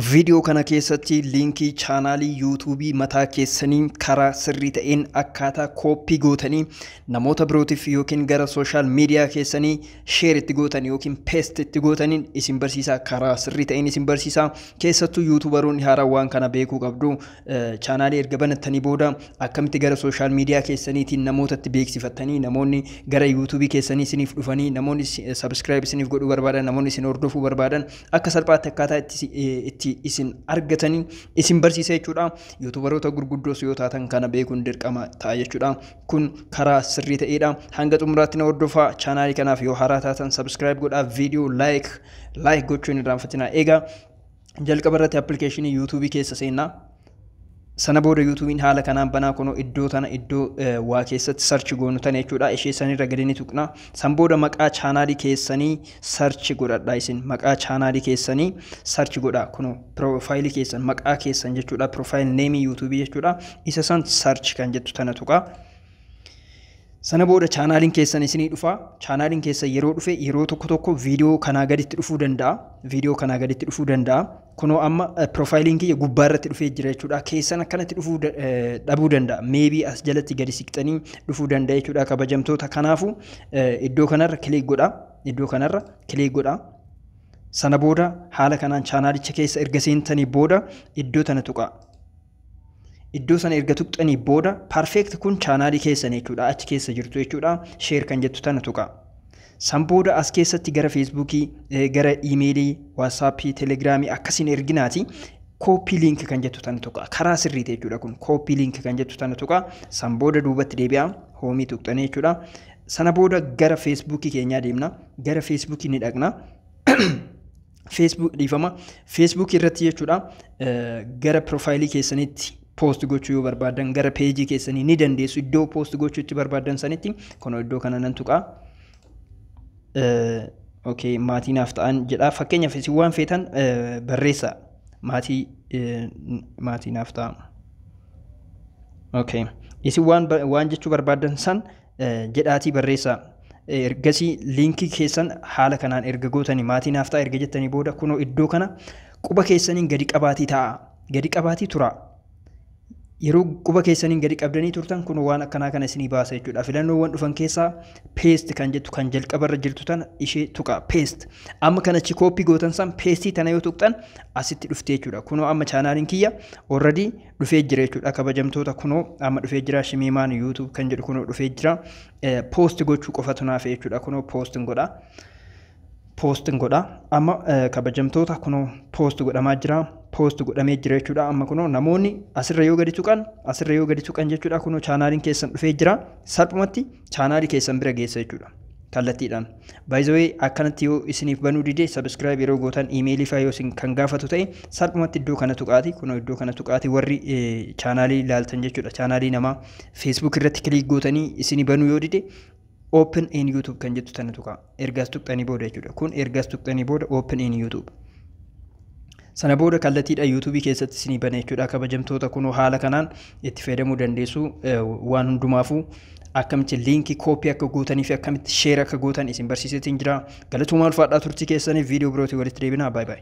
Viidiyoo kana keessatti liinkii chaanaalii yuutuubii mataa keessanii karaa sirrii ta'een akkaataa kooppii gootanii namoota birootiif yookiin gara sooshaal miidiyaa keessanii sheer itti gootan yookiin peest itti gootaniin isin barsiisaa karaa sirrii ta'een isin barsiisaa keessattuu yuutuubaroonni haaraa waan kana beekuu qabdu. Chaanaalii erga banattanii booda akkamitti gara sooshaal miidiyaa keessaniitiin namootatti beeksifattanii namoonni gara yuutuubii keessanii isiniif dhufanii namoonni sabiskiraayib isiniif godhuu barbaadan namoonni isin hordofuu barbaadan akka salphaatti akkaataa itti, itti isin argatanii isin barsiisa jechuudha. Yuutuubaroota gurguddoos yoo taatan kana beekuun dirqama ta'a jechuudha. Kun karaa sirrii ta'eedha. Hanga xumuraatti na hordofaa chaanaalii kanaaf yoo haaraa taatan sabiskiraayib godhaa viidiyoo laayik laayik gochuun irraanfatinaa eegaa. jalqaba irratti appilikeeshinii yuutuubii keessa seenna. Sana booda yuutuubiin haala kanaan banaa kunoo iddoo tana iddoo waa keessatti sarchi goonu tana jechuudha. Ishee sanirra gadi ni tuqna. San booda maqaa chaanaalii keessanii sarchi godhadha isin. Maqaa chaanaalii keessanii sarchi godha. Kunoo piroofaayilii keessan maqaa keessan jechuudha. Piroofaayil neemii yuutuubii jechuudha. Isa san sarchi kan jettu tana tuqa. Sana booda chaanaaliin keessan isinii dhufa. Chaanaaliin keessan yeroo dhufe yeroo tokko tokko viidiyoo kanaa gaditti dhufuu danda'a. Viidiyoo kanaa gaditti dhufuu danda'a. Kunoo amma piroofaayiliin kiyya gubbaa irratti dhufee jira jechuudha. Keessan akkanatti dhufuu dhabuu danda'a. Meebii as jalatti gadi siqxanii dhufuu danda'a jechuudha kabajamtoota. Kanaafuu iddoo kanarra kiliik godha. Iddoo kanarra kiliik godha. Sana booda haala kanaan chaanaalicha keessa erga seentanii booda iddoo tana tuqaa. Iddoo sana erga tuqxanii booda perfect kun chaanaalii keessan jechuudha achi keessa jirtu jechuudha share kan jettu tana tuqa. San booda as keessatti gara feesbuukii gara iimeelii waatsaappii telegiraamii akkasiin erginaati kooppii liinki kan jettu tana tuqa karaa sirriiti jechuudha kun kooppii liinki kan jettu tana tuqa san booda duubatti deebi'a hoomii tuqxanii jechuudha. Sana booda gara feesbuukii keenyaa deemna gara feesbuukii ni dhaqna. Facebook dhiifama Facebook irratti jechuudha gara profaayilii keessanitti poost gochuu yoo barbaadan gara peejii keessanii ni dandeessu iddoo poost gochuu itti barbaadan sanitti kunoo iddoo kana nan tuqaa. Okay, maatii naaf ta'an jedha fakkeenyaaf isin waan feetan barreessa maatii maatii naaf ta'a. Okay. Isin waan waan jechuu barbaadan san jedhaatii barreessaa. Ergasii liinkii keessan haala kanaan erga gootanii maatii naaf ta'a erga jettanii booda kunoo iddoo kana quba keessaniin gadi qabaatii ta'a. Gadi qabaatii turaa. Yeroo quba keessaniin gadi qabdanii turtan kun waan akkanaa kana isinii baasa jechuudha. Filannoowwan dhufan keessaa paste kan jettu kan jalqabarra jirtu tana ishee tuqa paste. Amma kan achi kooppii gootan san paste tana yoo tuqxan asitti dhufte jechuudha. Kunoo amma chaanaaliin kiyya already dhufee jira jechuudha kabajamtoota kunoo amma dhufee jira shimiimaan yuutuub kan jedhu kunoo dhufee jira poosti gochuu qofatu naaf jechuudha kunoo poostin godha poostin godha amma kabajamtoota kunoo poosti godhamaa jira poosti godhamee jira jechuudha amma kunoo namoonni asirra yoo gadi tuqan asirra yoo gadi tuqan jechuudha kunoo chaanaaliin keessan dhufee jira salphumatti chaanaali keessan bira geessa jechuudha. kallattiidhaan. By the way akkanatti yoo isiniif banuu dide subscribe yeroo gootan email faa yoo isin kan gaafatu ta'e salphumatti iddoo kana tuqaati kunoo iddoo kana tuqaati warri chaanaalii laaltan jechuudha chaanaalii namaa Facebook irratti kiliik gootanii isini banuu yoo dide open in YouTube kan jettu tana tuqaa. erga as tuqxanii booda jechuudha kun erga as tuqxanii booda open in youtube sana booda kallattiidha yuutuubii keessatti isinii bana jechuudha kabajamtoota kunoo haala kanaan itti fayyadamuu dandeessu waan hundumaafuu akkamitti liinkii kooppii akka gootanii fi akkamitti sheer akka gootan isin barsiisetiin jira galatumaa ulfaadhaa turtii keessaniif viidiyoo birootii walitti deebinaa baay baay.